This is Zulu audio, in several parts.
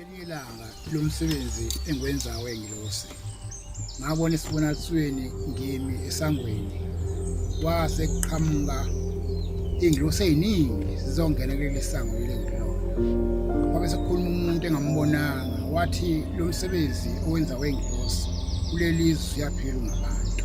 ngelinye ilanga lo msebenzi engiwenzayo engilosi ngabona esibonakalisweni ngimi esangweni kwase kuqhamuka ingilosi eziningi sizongena kuleli sango leli ngilona kwabe sekukhuluma umuntu engambonanga wathi lo msebenzi owenza wengilosi kuleli zwe uyaphila ngabantu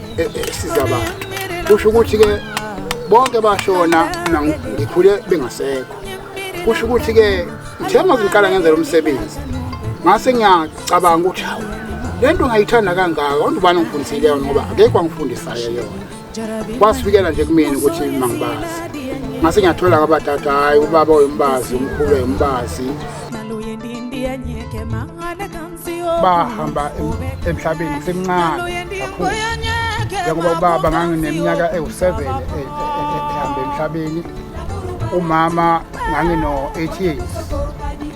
e, e, esiza abantu kusho ukuthi-ke bonke bashona ngikhule bengasekho kusho ukuthi-ke ngithe uma ngiqala ngenza lo msebenzi ngase ngiyacabanga ukuthi hawu le nto ngayithanda kangaka onto ubani ongifundisile yona ngoba akekho angifundisayo yona kwasifikela nje kumina ukuthi mangibazi ngase ngiyathola kabatata hhayi ubaba oyombazi umkhulu oyombazi bahamba emhlabeni ngisemncane kakhulu njengoba ubaba ngangineminyaka ewu-seven e, e, e, ehamba emhlabeni umama ngangino-eight years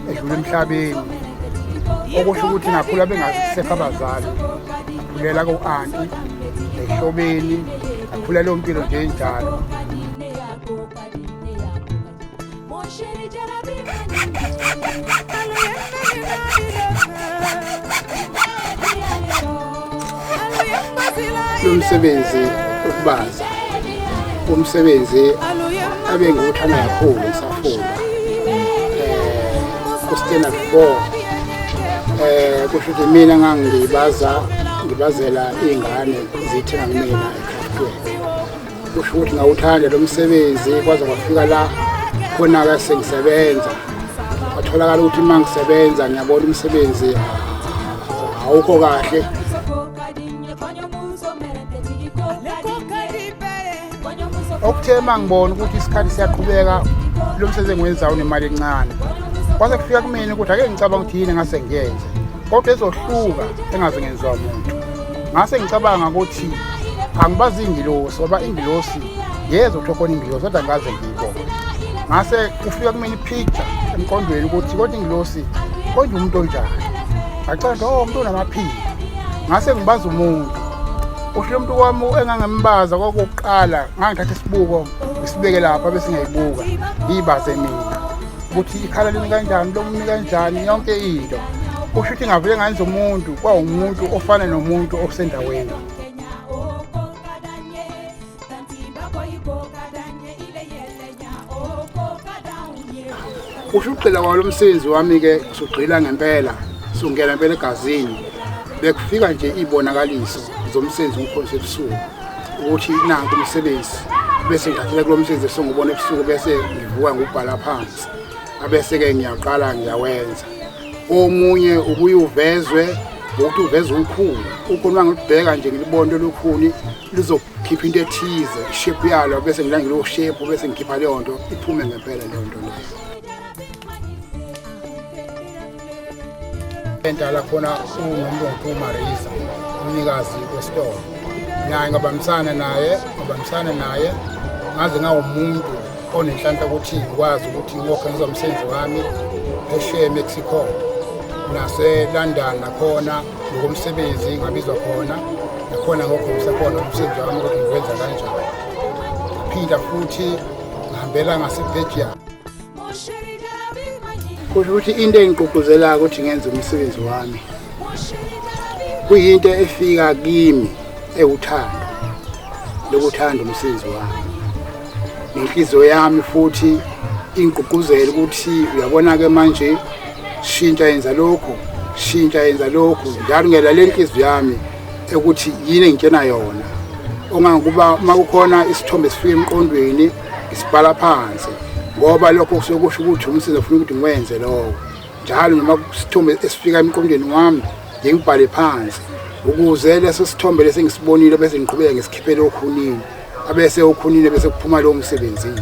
edlula emhlabeni okusho ukuthi ngakhula bengasekho abazali ngakhulela ko-anti ehlobeni ngakhulela ompilo nje njalo lomsebenzi ukubaza umsebenzi abe ngiwuthanda kakhulu ngisafunda um kustena before um kusho ukuthi mina ngangibaza ngibazela iy'ngane zithenga kumina ekhafutweni kusho ukuthi ngawuthanda lo msebenzi kwaze kwafika la khona-ke sengisebenza kwatholakala ukuthi uma ngisebenza ngiyabona umsebenzi awukho kahle okuthe uma ngibona ukuthi isikhathi siyaqhubeka lo msebenzi engiwenzayo unemali encane kwase kufika kumina ukuthi ake ngicabanga ukuthi yini engase ngiyenze kodwa ezohluka engaze ngenziwa muntu ngase ngicabanga ukuthi angibazi ingilosi ngoba ingilosi yeza ukuthi khona ingilosi kodwa ngaze ngiyibone ngase kufika kumina ipicture emqondweni ukuthi kodwa ingilosi kodwa umuntu onjani ngacanda o oh, umuntu onamaphiko ngase ngibaza umuntu usho umuntu kwami engangembaza kwakuqala ngangithatha isibuko ngisibeke lapha bese ngiyayibuka ngiyibaze mina ukuthi ikhala limi kanjani lomumi kanjani yonke into kusho ukuthi ngavele nganza umuntu kwawumuntu ofana nomuntu osendaweni kusho ukugxila kwalo msebenzi wami-ke sugxila ngempela sungena impela egazini bekufika nje iy'bonakaliso zomsebenzi umkhosi ebusuku ukuthi nanku umsebenzi bese ngidathela kulo msebenzi esengubona ebusuku bese ngivuka ngubhala phansi abese-ke ngiyaqala ngiyawenza omunye ubuye uvezwe ngokuthi uveze ukhulu ukhona ngilibheka nje ngilibona lolukhuni lizokhipha into ethize ishepu yalo bese ngilandela ushepu bese ngikhipha leyo nto iphume ngempela leyo nto leyo Entala khona uNomlungu uMarisa umnikazi wesitolo naye ngabambisana naye ngabambisana naye ngaze ngawumuntu onenhlanhla ukuthi ngikwazi ukuthi ngokhe ngizomsebenzi wami eshiye eMexico naseLondon nakhona ngokomsebenzi ngabizwa khona nakhona ngokho ngisekhona umsebenzi wami ukuthi ngiwenza kanjani phinde futhi ngihambela ngaseBelgium kusho ukuthi into engigqugquzelayo ukuthi ngenze umsebenzi wami kuyinto efika kimi ewuthando lokuthanda umsebenzi wami nenhliziyo yami futhi ingigqugquzela ukuthi uyabona-ke manje shintsha yenza lokhu shintsha yenza lokhu njalo ngiyalaleli inhliziyo yami ukuthi yini engitshena yona ongangokuba uma kukhona isithombe esifika emqondweni isibhala phansi ngoba lokho kusuke kusho ukuthi umsebenzi ofuna ukuthi ngiwenze lowo njalo noma kusithombe esifika emqondweni wami ngingibhale phansi ukuze leso sithombe lesi ngisibonile bese ngiqhubeka ngesikhiphele okhunini abese okhunini bese kuphuma lowo msebenzini